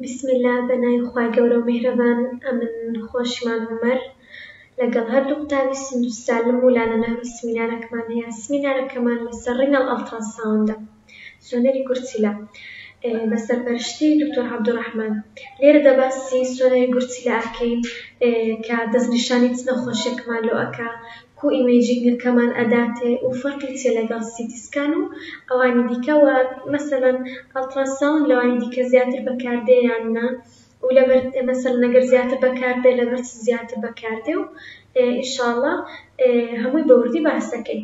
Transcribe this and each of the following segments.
بسم اللە بەناوی خوای گەورەو میهرەبان ئەمن خۆشمان هۆمەر لەگەڵ هەردوو قوتابی سندوس سالم و لالە ناوی سمینارەکمان هەیە سمینارەکەمان لەسەر ڕیناڵ ئەڵتڕا ساوندە سۆنەری گورچیلە بەسەرپەرشتی دکتۆر عبدالرحمن لێرەدا باسی سۆنەری گورچیلە ئەکەین کە دەستنیشانی چ نەخۆشیەکمان لۆ ئەکا کو ئیمەیجینگە کەمان ئەداتێ و فەرقی چیە لەگەڵ سیتی سکان و ئەوانی دیکە وە مەسەلەن ئەڵترا ساوند لەوانی دیکە زیاتر بەکاردێ یان نا و لەبەر مەسەلەن ئەگەر زیاتر بەکاردێ لەبەر چ زیاتر بەکاردێ و ئینشاڵا هەمووی بەوردی باس ئەکەین.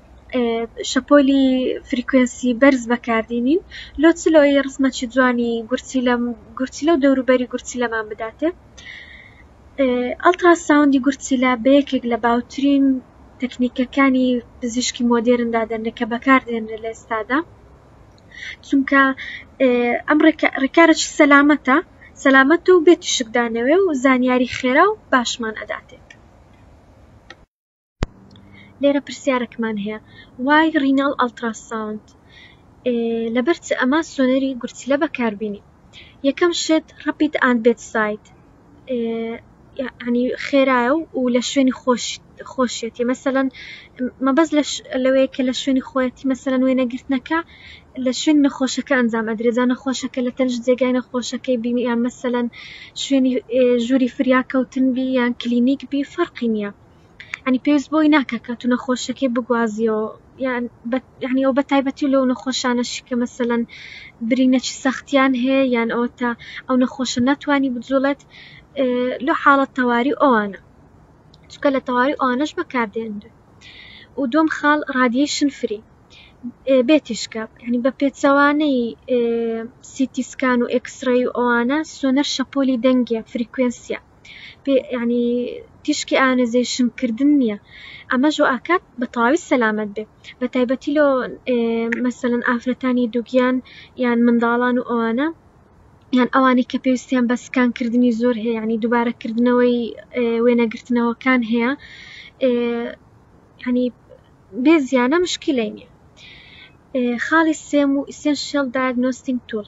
شەپۆلی فریکوێنسی بەرز بەکاردینین لۆ چ لۆیی ڕسمەکی جوانی گورچیلە گورچیلە و دەوروبەری گورچیلەمان بداتێ ئەڵترا ساوندی گورچیلە بە یەکێک لە باوترین تەکنیکەکانی پزیشکی مۆدێرن دادەنرێ کە بەکاردێنرێ لە ئێستادا چونکە ئەم ڕێکارەکی سەلامەتە سەلامەت و بێ تیشکدانەوێ و زانیاری خێرا و باشمان ئەداتێ لێرە پرسیارەکمان هەیە وای ڕیناڵ ئەڵتراساوند لەبەر چ ئەمە سۆنەری گورچیلە بەکاربینی یەکەم شت ڕپیت ئاند بێت سایت ینی خێرایە و لە شوێنی خۆشیەتی مەسەەن مەبەز لەوەیە کە لە شوێنی خۆەتی مەسەەن وێنەگرتنەکە لە شوێن نەخۆشەکە ئەنجام ئەدرێجا نەخۆشەکە لە تەنج جێگای نەخۆشەکەی بینی یان مەسەەن شوێنی ژووری فریاکەوتن بی یان کلینیک بی فەرقی نییە ینی پێویست بۆی ناکە کە تو نەخۆشەکەی بگوازیەوە یان یعنی ئەو بە تایبەتی لەو نەخۆشانەش کە مەسەەن برینەچی سەختیان هەیە یان ئەوە تا ئەو نەخۆشە ناتوانانی بجوڵێت لە حاڵەت تەواری ئەوانە چکە لە تەواری ئەوانەش بەکاردێنرێت و دوم خاڵ رادیشن فری بێتیشکە ینی بە پێچەوانەی سیتیسکان و ئکسڕی و ئەوانە سۆنەر شەپۆلی دەنگە فریکوێنسیە یعنی تیشکی ئانزیشن کردن نییە ئەمە ژۆ ئاکات بە تەواوی سەلامت بێ بە تایبەتی لۆ مەسەن ئافرەتانی دوگیان یان منداڵان و ئەوانە یان ئەوانەی کە پێویستیان بە سکان کردنی زۆر هەیە ینی دووبارەکردنەوەی وێنەگرتنەوەکان هەیە هەنی بێ زیانە مشکلەی نیە خاڵی سێم و ئیسێنشل دایگنۆستینگ تول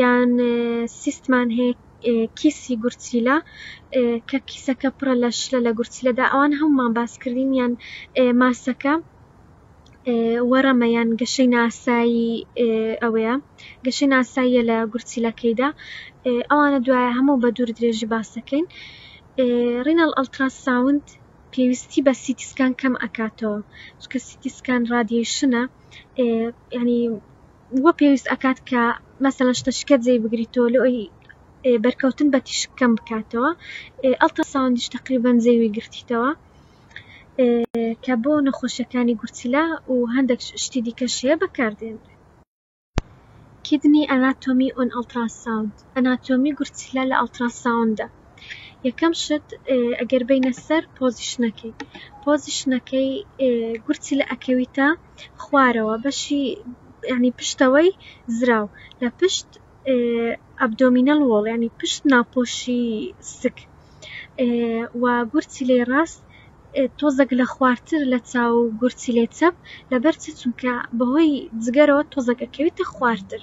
یان سیستمان هەیە کیسی گورچیلە کە کیسەکە پڕە لە شلە لە گورچیلەدا ئەوان هەمومان باس کردین یان ماسەکە وەڕەمە یان گەشەی ناسایی ئەوەیە گەشەی ناساییە لە گورچیلەکەیدا ئەوانە دوایە هەموو بە دوور درێژی باسەکەین ڕینەڵ ئەلتراساوند پێویستی بە سیتیسکان کەم ئەکاتەوە چکە سیتیسکان ڕادیشنە ینی وا پێویست ئەکات کە مەسەلەن شتە شکە جێی بگریتەوە لەوەی بەرکەوتن بە تیشک کەم بکاتەوە ئەڵترا ساوندیش تەقریبەن جێوی گرتیتەوە کە بۆ نەخۆشیەکانی گورچیلە و هەندێک شتی دیکە شەیە بەکاردێن کیدنی ئەناتۆمی ئۆن ئەڵترا ساوند ئەناتۆمی گورچیلە لە ئەڵترا ساوندە یەکەم شت ئەگەر بینە سەر پۆزیشنەکەی پۆزیشنەکەی گورچی لە ئەکەویتە خوارەوە بەشی یانی پشتەوەی زراو لە پشت ئەبدۆمینەل وۆڵ یانی پشت ناپۆشی سک و گورچیلەی ڕاست تۆزەک لە خوارتر لە چاو گورچیلەی چەپ لەبەر چ چونکە بەهۆی جگەرەوە تۆزەکەکەویتە خوارتر.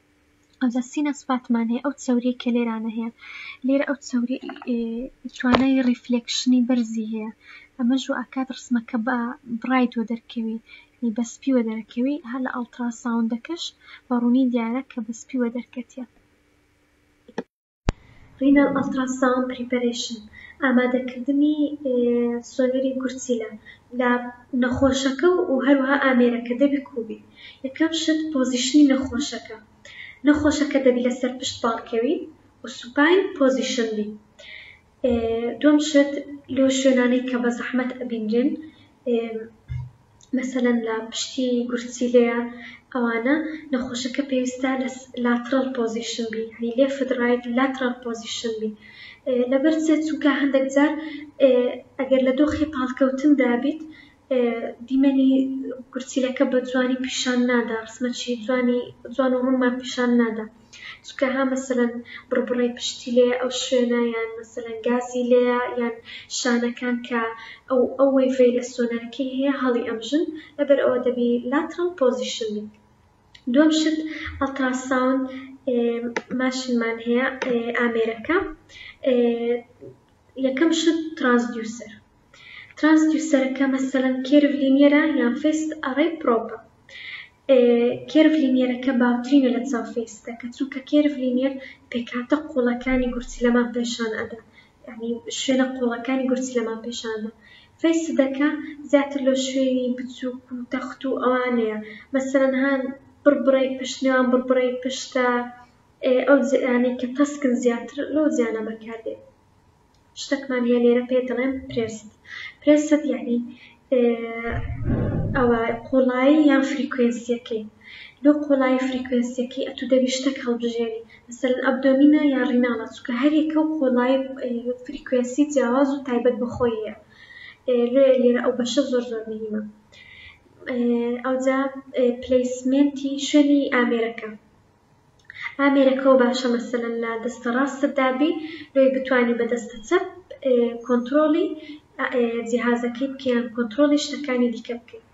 ئەوجا سینە سپاتمان هەیە ئەو چەوریەی کە لێرانە هەیە لێرە ئەو چەوری توانای ڕیفلێکشنی بەرزی هەیە ئەمەش و ئاکات ڕسمەکە بە بڕایت وە دەرکەوی بە سپی وە دەرەکەوی هە لە ئەڵتراساوندەکەش بە ڕوونی دیارە کە بە سپی وە دەرکەتیە Renal Ultrasound Preparation، ئامادەکردنی سۆنەری گورچیلە لە نەخۆشەکە و هەروەها ئامێرەکە دەبی کوو بی یەکەم شت پۆزیشنی نەخۆشەکە نەخۆشەکە دەبی لەسەر پشت پاڵکەوی و سوپاین پۆزیشن بی. دووەم شت لۆ شوێنانەی کە بە زەحمەت ئەبینرێن مەسەلەن لە پشتی گورچیلەیە ئەوانە نەخۆشەکە پێویستە لە لاترال پۆزیشن بی هەنی لێ فدرایت لاترال پۆزیشن بی لەبەر چێت چونکە هەندێک جار ئەگەر لە دۆخی پاڵکەوتن دابیت دیمەنی گورچیلەکە بە جوانی پیشان نادا ڕسمە چی جوانی جوان و ڕونمان پیشان نادا چونکە ها مەسەلەن بڕبڕەی پشتی لێیە ئەو شوێنە یان مەسەلەن گازی لێیە یان شانەکان کە ئەو ئەو وەیڤەی لە سۆنەرەکەی هەیە هەڵی ئەمژن لەبەر ئەوە دەبی لاترەڵ پۆزیشن بیت دووەم شت ئەڵتراساون ماشینمان هەیە ئامێرەکە یەکەم شت ترانسدیوسەر ترانسدیوسەرەکە مەسەلەن کێرڤ لینیەرە یان فێست ئەڕێی پرۆپە؟ ئێ کێرڤ لینیەرەکە باوترینە لە چاو فێستە کە چونکە کێرڤ لینیەر پێکهاتە قوڵەکانی گورچیلەمان پێشان ئەدا یانی شوێنە قوڵەکانی گورچیلەمان پێشان ئەدا فێستدەکە زیاتر لۆ شوێنی بچوک و تەخت و ئەوانەیە مەسەلەن هان بڕبڕەی پشت نێوان بڕبڕەی پشتە ئێ ئەو جێیانەی کە تەسکن زیاتر لەو جێیانە بەکاردێ. شتەکمان هەیە لێرە پێی دەڵێن پرێست پرێست یعنی ئەوە قوڵایی یان فریکوێنسیەکەی لۆ قوڵایی فریکوێنسیەکەی ئەتو دەبی شتەک هەڵبژێری مەسەل ئەبدۆمینە یا ڕیناڵە چکە هەرێکە و قۆڵایی فریکوێنسی جیاواز و تایبەت بخۆیە لێ لێرە ئەو بەشە زۆر زۆر مهمە ئەوجا پلیسمنتی شوێنی ئامێرەکە ئامێرەکەوە باشە مەسەلەن لە دەستە ڕاستت دابی لۆی بتانی بە دەستە چەپ کۆنترۆڵی جیهازەکەی بکەیان کۆنترۆڵی شتەکانی دیکە بکەیت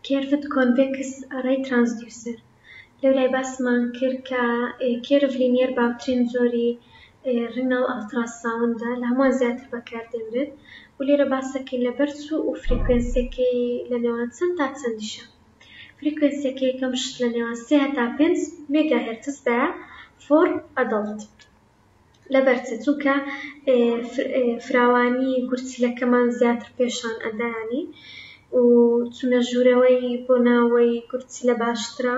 کێرڤت کۆنڤێکس ئەڕەی ترانسدیوسەر لەولای باسمان کرد کە کێرڤ لینیەر باوترین جۆری ڕیناڵ ئەڵترا ساوندە لە هەمووان زیاتر بەکار دێنرێت و لێرە باسەکەی لە بەر سوو و فریکوێنسیەکەی لە نێوان چەند تا چەندیشە فریکوێنسیەکەی یەکەم شت لە نێوان سێ هەتا پێنج مێگا هێرتز دایە فۆر ئەدەڵت لەبەر چ چونکە فراوانی گورچیلەکەمان زیاتر پێشان ئەدا یانی و چونە ژوورەوەی بۆ ناوەی گورچیلە باشترە.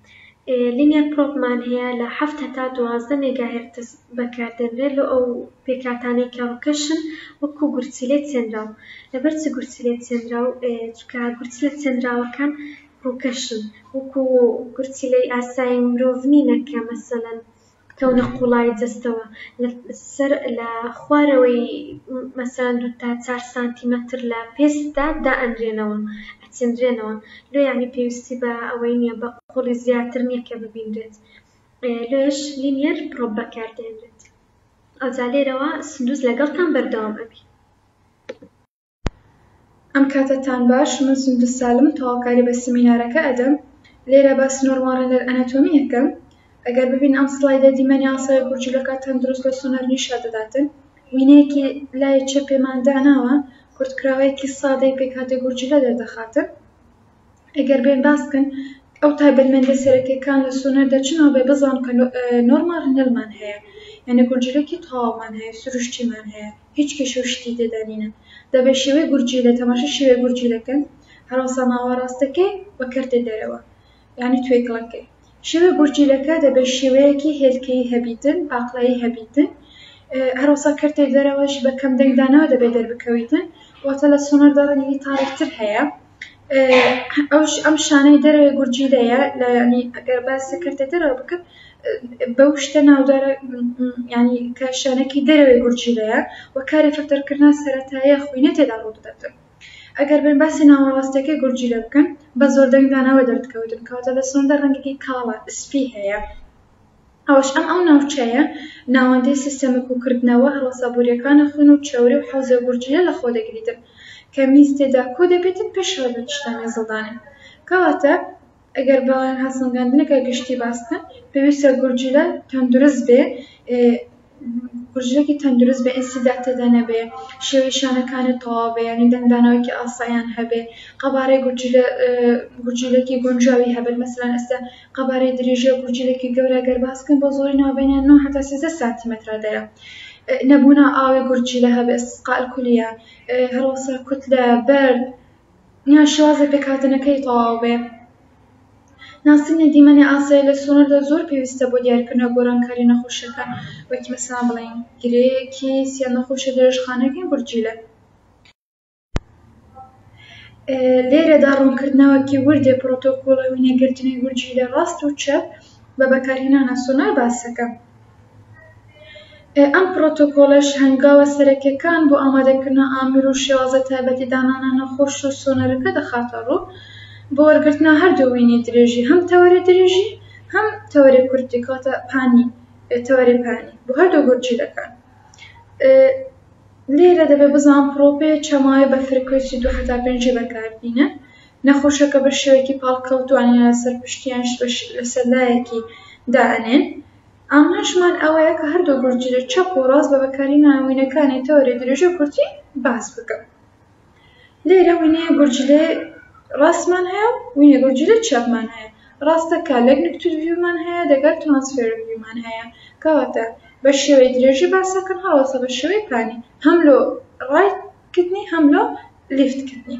لینیەر پرۆبمان هەیە لە حەفت هەتا دوازدە مێگاهێرتز بەکاردێنرێت لۆ ئەو پێکهاتانەی کە ڕووکەشن وەکو گورچیلەی چێنراو لەبەر چ گورچیلەی چێنراو چونکە گورچیلە چێنراوەکان ڕووکەشن وەکو گورچیلەی ئاسایی مرۆڤ نینە کە مەسەلەن کەونە قوڵایی جەستەوە لە سەر لە خوارەوەی مەسەلەن دوو تا چار سانتیمەتر لە پێستدا دائەنرێنەوە ئەچێنرێنەوە لۆ یانی پێویستی بە ئەوەی نیە بە قوڵی زیاتر نیە کە ببینرێت لۆیەش لینیەر پڕۆپ بەکار دێنرێت ئەوجا لێرەوە سندوز لەگەڵتان بەردەوام ئەبی. ئەم کاتە تان باش من سندس سالم تەواوکاری بە سمینارەکە ئەدەم لێرە باسی نۆرماڵ ڕێنەر ئەنەتۆمی ئەکەم ئەگەر ببینن ئەم سڵایدە دیمەنی ئاسای گورجیلەکە تەندروست لە سۆنەر نیشا دەداتن وینەیەکی لای چەپێمان داناوە کورتکراوەیەکی سادەی پێکهاتەی گورجیلە دەردەخاتن ئەگەر بێن باس بکەن ئەو تایبەتمەندە سەرەکیەکان لە سۆنەردا چ ناوبێ بزان کە نۆرمال هەنەلمان هەیە یعنی گورجیلەکی تەواومان هەیە سروشتیمان هەیە هیچ کێشە و شتی تێدانینە دەبێ شێوەی گورجیلە تەماشە شێوەی گورجیلەکەن هەراسا ناوە ڕاستەکەی بە کەرتێ دەرەوە یعنی توێکڵەکەی شێوە گورجیلەکە دەبێ شێوەیەکی هێلکەی هەبیتن پاقلایی هەبیتن هەراسا کەرتێ دەرەوەش بە کەم دەنگدانەوە دەبێ دەربکەویتن واتە لە سۆنەردا ڕەنگی تاڕیکتر هەیە ئەوش ئەم شانەی دەرێ گورجی دەیە لە ینی ئەگەر باسە کردە دەرەوە بکەم بەو شتە ناودارە ینی کە شانەکی دەرەوەی گورجی دەیە و کاری فلتەرکردنا سەرەتایە خوینە تێدا ڕوو دەدەن ئەگەر بێن باسی ناوەڕاستەکەی گورجی لە بکەن بە زۆردەنگدانەوە دەردکەوتن کەواتە لە سۆندە ڕەنگێکی کاڵە سپی هەیە ئەوەش ئەم ئەو ناوچەیە ناوەندەی سیستەمە کوکردنەوە هەڵەسە بوریەکانە خون و چەوری و حەوزە گورجیلە لەخۆ دەگریتن کە میز تێدا کۆ دەبێتن پێشەوە لە چشتە مێزەڵدانن کەواتە ئەگەر بڕوایان هەڵسەنگاندنەکە گشتی باس بکەن پێویستە گورجیلە تەندروست بێ کوژرێکی تەندروست بە ئێسیدا تێدا نەبێ شێوەی شانەکانت تەواو بێ یانی دەنگدانەوەیەکی ئاسایان هەبێ قەبارەی گورچیلە گورچیلێکی گونجاوی هەبێت مەسەلەن ئێستا قەبارەی دریژە گورچیلێکی گەورە گەر باس بکەین بۆ زۆری ناوبەینە نۆ هەتا سێزدە سانتیمەترە دەیە نەبوونا ئاوێ گورچیلە هەبێت سقا الکلیە هەڵەسا کوتلە بەرد یان شێوازی پێکهاتنەکەی تەواو بێ. ناسینی دیمەنی ئاسایی لە سنووردا زۆر پێویستە بۆ دیارکردنەوە گۆڕانکاری نەخۆشیەکە، وەک مەسەڵەن بڵێین گرێکیس یان نەخۆشیە درێژخانەکەی گورچیلە. لێرەدا ڕوونکردنەوەکی وردێ پرۆتۆکۆڵە وینەگرتنی گورچیلە ڕاست و چەپ بە بەکارهێنانە سۆنار باس دەکەم. ئەم پڕۆتۆکۆڵەش هەنگاوە سەرەکیەکان بۆ ئامادەکردنە ئامیر و شێوازە تایبەتی دانانە نەخۆش و سۆنەرەکە دەخاتە ڕوو بۆ وەرگرتنە هەردوو وینی درێژی هەم تەوەرە درێژی هەم تەوەرە کورتی کاتە پانی تەوەرە پانی بۆ هەردوو گورچیلەکان لێرە دەبێ بزان پرۆپێ چەماوی بە فرکوێسی دو حتا پێنجی بەکاربینە نەخۆشەکە بە شێوەیەکی پاڵکەوتوانی لەسەر پشتیان لەسەر لایەکی دائنێن ئامانجمان ئەوەیە کە هەردوو گونجینەی چەپ و ڕاست بە بەکارهێنانی وینەکانی تەوەری درێژی و کورتی باس بکەم. لێرە وینەیە گورجیلەی ڕاستمان هەیە و وینە گورجیلەی چەپمان هەیە. ڕاستە کە لەگنکتود ڤیومان هەیە دەگەر ترانسفێرد ڤیومان هەیە. کەواتە بە شێوەی درێژی باس ئەکەم هەڵبەتە بە شێوەی پانی هەم لۆ ڕایت کردنی هەم لۆ لیفت کردنی.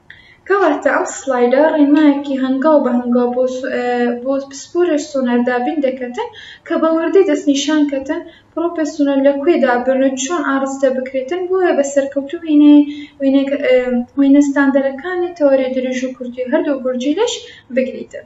کەواتە ئەم سڵایدە ڕێنمایەکی هەنگاو بە هەنگاو بۆ پسپۆرێ سۆنار دابین دەکەتن کە بە وردی دەسنیشان کەتن پڕۆپێ سۆنار لە کوێ دابن و چۆن ئاڕستە بکرێتن بۆیە بە سەرکەوتوو وێنە ستاندەرەکانی تەوەرێ دریژ و کورتی هەردوو بورجی لەش بگریتن.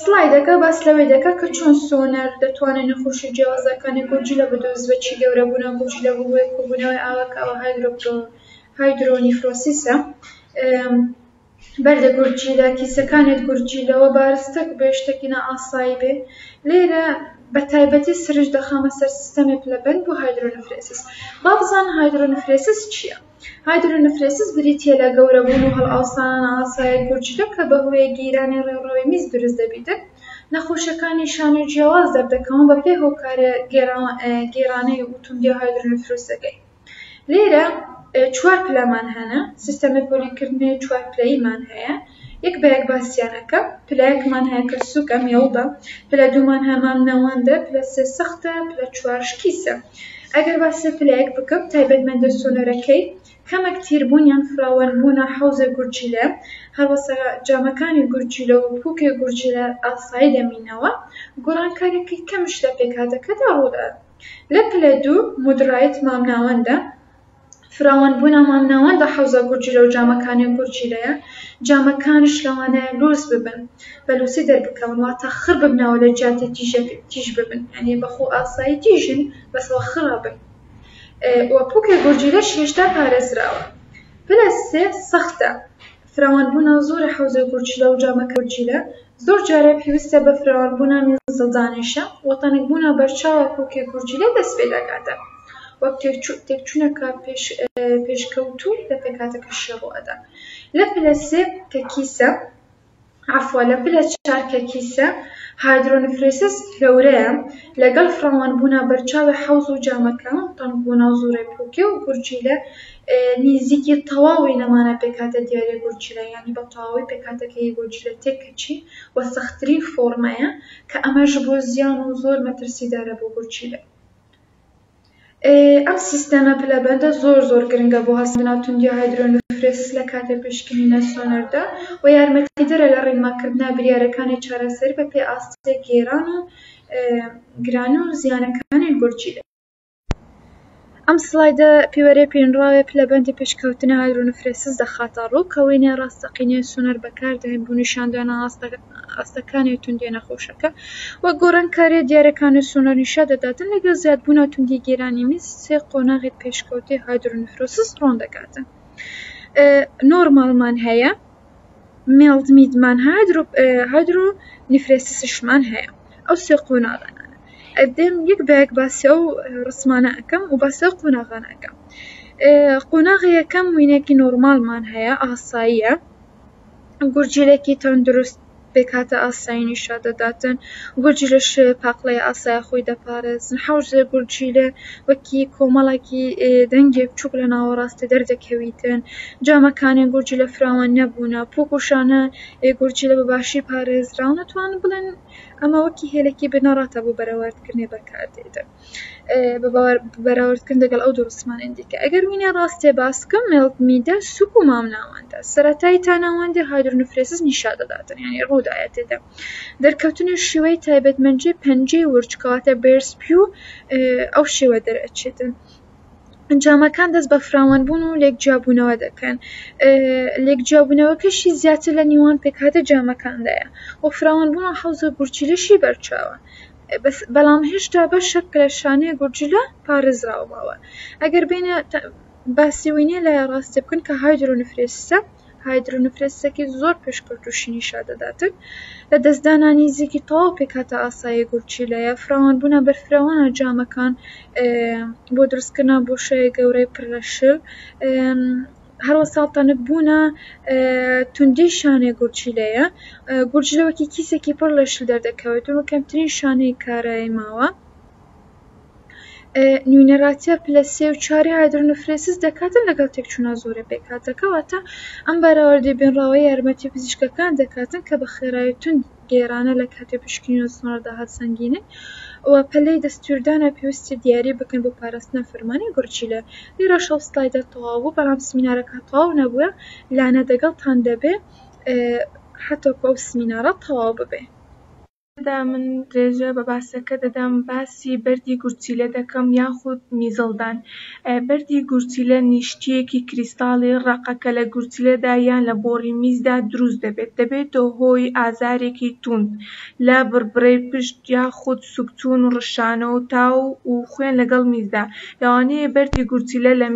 سڵایدەکە باس لەوەی دەکا کە چۆن سۆنەر دەتوانێ نەخۆشی جیاوازەکانی گورچیلە بدۆزێ چی گەورەبوونە گورچیلە بۆ هۆی کۆبوونەوەی ئاوە کە ئەوە هایدرۆپرۆ هایدرۆنیفرۆسیسە بەردە گورچیلە کیسەکانت گورچیلەوە بارستە بێ شتێکی نائاسایی بێ لێرە بە تایبەتی سرنج دەخەمە سەر سیستەمێک لە بەن بۆ هایدرۆنفرێسس با بزانە هایدرۆنفرێسس چییە؟ هایدرونفرێسس بریتییە لە گەورەبوون و هەڵئاوسانە ئاسایە گورچیلە کە بەهۆیە گیرانی ڕێوڕەوی میز دروست دەبیتن، نەخۆشەکانی شانۆی جیاواز دەردەکەون بەپێ هۆکارە گێرانەی و توندیە هایدرونفروسەکەی. لێرە چوار پلەمان هەنە، سیستەمی پۆلینکردنەوەی چوار پلەییمان هەیە. یەک بە یەک باسیان ئەکەم پلە یەکمان هەیە کە سوکە مێوبە پلە دوومان هەیە مام نەوەندە پلە سێ سەختە پلە چوار شکیسە ئەگەر باسی پلە یەک بکەم تایبەتمەندە سۆنەرەکەی کەمەک تیربوون یان فراوان بوونە حەوزە گورچیلە هەروەسا جامەکانی گورچیلە و پووکێ گورچیلە ئاسایی دەمینەوە گۆڕانکاریەکەی کەمیش لە پێکهاتەکەدا ڕوودەدات لە پلە دوو مودرایت مام ناوەندە فراوان بوونا مامناوەند بە حەوزە گورجیلە و جامەکانی گورجیلەیە جامەکانش لەوانەیە لووس ببن بە لووسی دەربکەون واتە خڕ ببنەوە لە جیاتی تیژەک تیژ ببن یعنی بە خۆ ئاسایی تیژن بەسەوە خڕە بن و پوکێ گورجیلەش هێشتا پارێزراوە پلە سێ سەختە فراوانبوونە زۆرە حەوزەی گورچیلە و جامە کەورچیلە زۆر جارێ پێویستە بە فراوانبوونە میزەڵدانێشە و تەنکبوونە بەرچاوە پووکی گورچیلە دەست پێ دەکاتە وەک تێکچوونەکە پێشکەوتوو لە پێکهاتەکەشی ڕوو ئەدا لە پلە سێ کە کیسە عەفوە لە پلە چار کە کیسە هایدرۆنفرێسس گەورەیە لەگەڵ فراوان بوونە بەرچاوی حەوز و جامەکە تەنک و ناوزوڕێ پووکێ و گورچیلە نیزیکی تەواوی نەمانە پێکهاتە دیاری گورچیلە یانی بە تەواوی پێکهاتەکەی گورچیلە تێک کەچی وە سەختترین فۆڕمەیە کە ئەمەش بۆ زیان و زۆر مەترسیدارە بۆ گورچیلە. ئەم سیستەمە پلەبەندە زۆر زۆر گرنگە بۆ هەست بەناو توندی هایدرۆنفرێس لە کاتی پشکنینە سۆنەردا و یارمەتیدەرە لە ڕیماکردنا بریارەکانی چارەسەر بە پێ ئاستی گێران و گرانی و زیانەکانی گورچیلە. ئەم سلایدە پیوەرێ پینراوێ پلەبەندی پشککەوتنە هایدرۆنفرێسس دەخاتە ڕوو کە وێنەێ ڕاستەقینەێ سۆنەر بەکاردێن بۆ نیشاندانە ئاستەکە. ئاستەکانی و توندیە نەخۆشەکە وەک گۆڕانکاریە دیارەکان و سونۆرنیشا دەداتن، لەگەڵ زیادبوون و توندی گیرانی میز سێ قۆناغی پێشکەوتەی هایدرۆنیفرۆسس ڕوون دەکاتن نۆرماڵمان هەیە، میڵد میدمان هەیە، هایدرۆنیفرێسسشمان هەیە ئەو سێ قۆناغانە. ئەبێم یەک بە یەک باسی ئەو ڕسمانە ئەکەم و باسی ئەو قۆناغانە ئەکەم قۆناغی یەکەم وینەکی نۆرماڵمان هەیە ئاساییە گورجیلەکی تەندروست پێکهاتە ئاسایی نیشا دەداتن گورجیلە شێوە پاقلەیە ئاسایە خۆی دەپارێزن حەوزێ گورجیلە وەکی کۆمەڵێکی دەنگێک چووک لە ناوەڕاستی دەردەکەویتن جامەکانی گورجیلە فراوان نەبوونە پووک و شانە گورجیلە بە باشی پارێزراون ئەتوانم بڵێم ئەمە وەکی هێلێکی بنەڕەتە بۆ بەرەوەردکردنی بەکاردێتن بەراوردکردن دەگەڵ ئەو دوو ڕستمانەی دیکە ئەگەر وینە ڕاستێ باسکە مێڵک میدە سوک و مامناوەندە سەرەتای تاناوەندێ هایدرۆنفرێسس نیشا دەداتن یانی ڕوودایە تێدا دەرکەوتنی شێوەی تایبەتمەندی پەنجەی ورچ کەواتە بێرسپی و ئەو شێوە دەرئەچێتن ئەنجامەکان دەست بە فراوانبوون و لێک جیابوونەوە دەکەن لێک جیابوونەوەکەشی زیاتر لە نیوان پێکهاتە جامەکاندایە و فراوانبوون و حوزە گورچیلەشی بەرچاوە بەڵام هێشتا بەشێک لە شانەی گورجیلە پارێزراو ماوە ئەگەر بێنە باسی وینە لە ڕاستێ بکەن کە هایدرۆنفرێسسە هایدرۆنفرێسسەکی زۆر پێشکەوت و شینی شا دەداتن لە دەستدانانی زیکی تەواو پێکاتە ئاسایی گورچیلەیە فراوان بوونە بەرفراوانە جامەکان بۆ دروستکردنا بۆشای گەورەی پرەشل هەروا ساڵتەنک بوونە توندی شانەی گورچیلەیە گورچیلە وەکی کیسێکی پڕ لە شل دەردەکەوێت و کەمترین شانەی کارایی ماوە نوینەراتە پلە سێ و چاری هایدرۆنفرێسس دەکاتن لەگەڵ تێکچوونا زۆرە پێکهاتەکەواتە ئەم بەراوردی بنراوە یارمەتی پزیشکەکان دەکاتن کە بە خێرای تون گێرانە لە کاتی پشکنین و سنوڕ داهات سەنگینن و پەلەی دەستوردانە پێویستە دیاری بکەن بۆ پاراستنە فەرمانی گورچیلە لیرە شەو سلایدە تەواو بوو بەڵام سمینارەکە تەواو نەبووە لانە دەگەڵتان دەبێ هەتەکو ئەو سمینارە تەواو ببێ. تێدا من درێژە بە باسەکە دەدەم باس. باسی بەردی گورچیلە دەکەم یاخود میزەڵدان. بەردی گورچیلە نیشتییەکی کریستاڵی ڕەقە کە لە گورچیلەدا یان لە بۆڕی میزدا دروست دەبێت، دەبێتە هۆی ئازارێکی توند لە بڕبرەی پشت یاخود سوکچوون و ڕشانە و تاو و خوێن لەگەڵ میزدا. لەوانەیە بەردی گورچیلە لە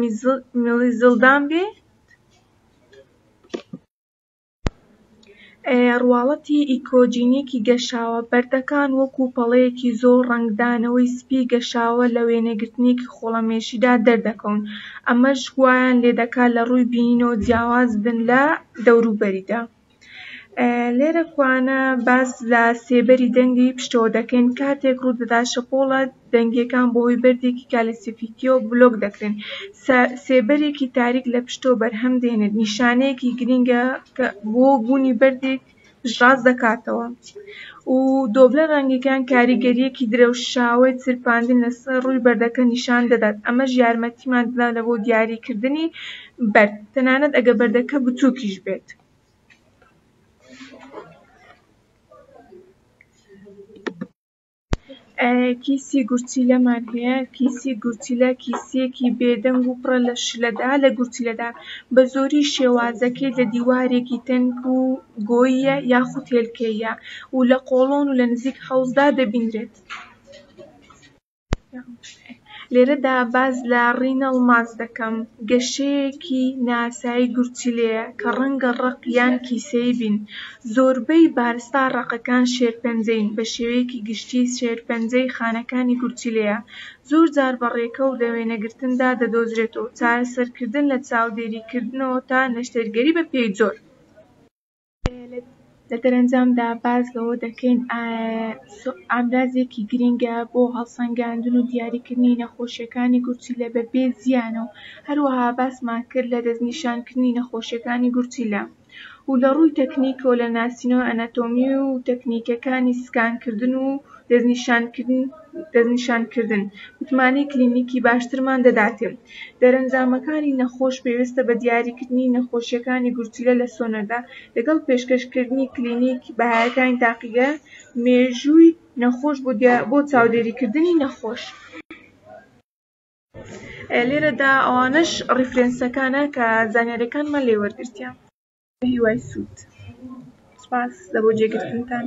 میزەڵدان بێت. ڕواڵەتی ئیکۆجینێکی گەشاوە بەردەکان وەکو پەڵەیەکی زۆر ڕەنگدانەوەی سپی گەشاوە لە وێنەگرتنێکی خۆڵەمێشیدا دەردەکەون ئەمەش وایان لێدەکات لە ڕووی بینینەوە جیاواز بن لە دەوروبەریدا لێرە کوانە باس لە سێبەری دەنگی پشتەوە دەکەین کاتێک ڕوودەدات شەپۆڵە دەنگییەکان بەهۆی بەردێکی کالیسیفیکییەوە بلۆک دەکرێن، سێبەرێکی تاریک لە پشتەوە بەرهەم دێنێت، نیشانەیەکی گرنگە کە بۆ بوونی بەردێک پشتڕاست دەکاتەوە و دۆبلەر ڕەنگییەکان کاریگەرییەکی درەوشاوەی چرپاندن لەسەر ڕووی بەردەکە نیشان دەدات، ئەمەش یارمەتیمان دەدات بۆ دیاریکردنی بەرد، تەنانەت ئەگەر بەردەکە بچووکیش بێت. کیسی گورچیلەمان هەیە کیسی گورچیلە کیسیەکی بێدەنگ و پڕە لە شلەدا لە گورچیلەدا بە زۆری شێوازەکەی لە دیوارێکی تەنک و گۆییە یاخود هێلکەییە و لە قۆڵۆن و لە نزیک حەوزدا دەبینرێت لێرەدا باس لە ڕینەڵ ماس دەکەم، گەشەیەکی ناسایی گورچیلەیە کە ڕەنگە ڕەق یان کیسەیی بین، زۆربەی بارستە ڕەقەکان شێرپەنجەین، بە شێوەیەکی گشتی شێرپەنجەی خانەکانی گورچیلەیە، زۆرجار بە ڕێکە و لە وێنەگرتندا دەدۆزرێتەوە، چارەسەرکردن لە چاودێریکردنەوە تا نەشتەرگەری بە پێی جۆر. لە دەرەنجامدا باس لەوە دەکەین ئامرازێکی گرنگە بۆ هەڵسەنگاندن و دیاریکردنی نەخۆشییەکانی گورچیلە بەبێ زیان و هەروەها باسمان کرد لە دەستنیشانکردنی نەخۆشییەکانی گورچیلە و لە ڕووی تەکنیکەوە لە ناسینەوەی ئەناتۆمی و تەکنیکەکانی سکانکردن و دەستنیشانکردن متمانەی کلینیکی باشترمان دەداتێ. دەرەنجامەکانی نەخۆش پێویستە بە دیاریکردنی نەخۆشییەکانی گورچیلە لە سۆنەردا، لەگەڵ پێشکەشکردنی کلینیکی بەهایەکانی تاقیگە مێژووی نەخۆش بۆ چاودێریکردنی نەخۆش. لێرەدا ئەوانەش ڕیفرێنسەکانە کە زانیارییەکانمان لێ وەرگرتیان. بە هیوای سوود. سوپاس لە بۆ جێگرتنتان.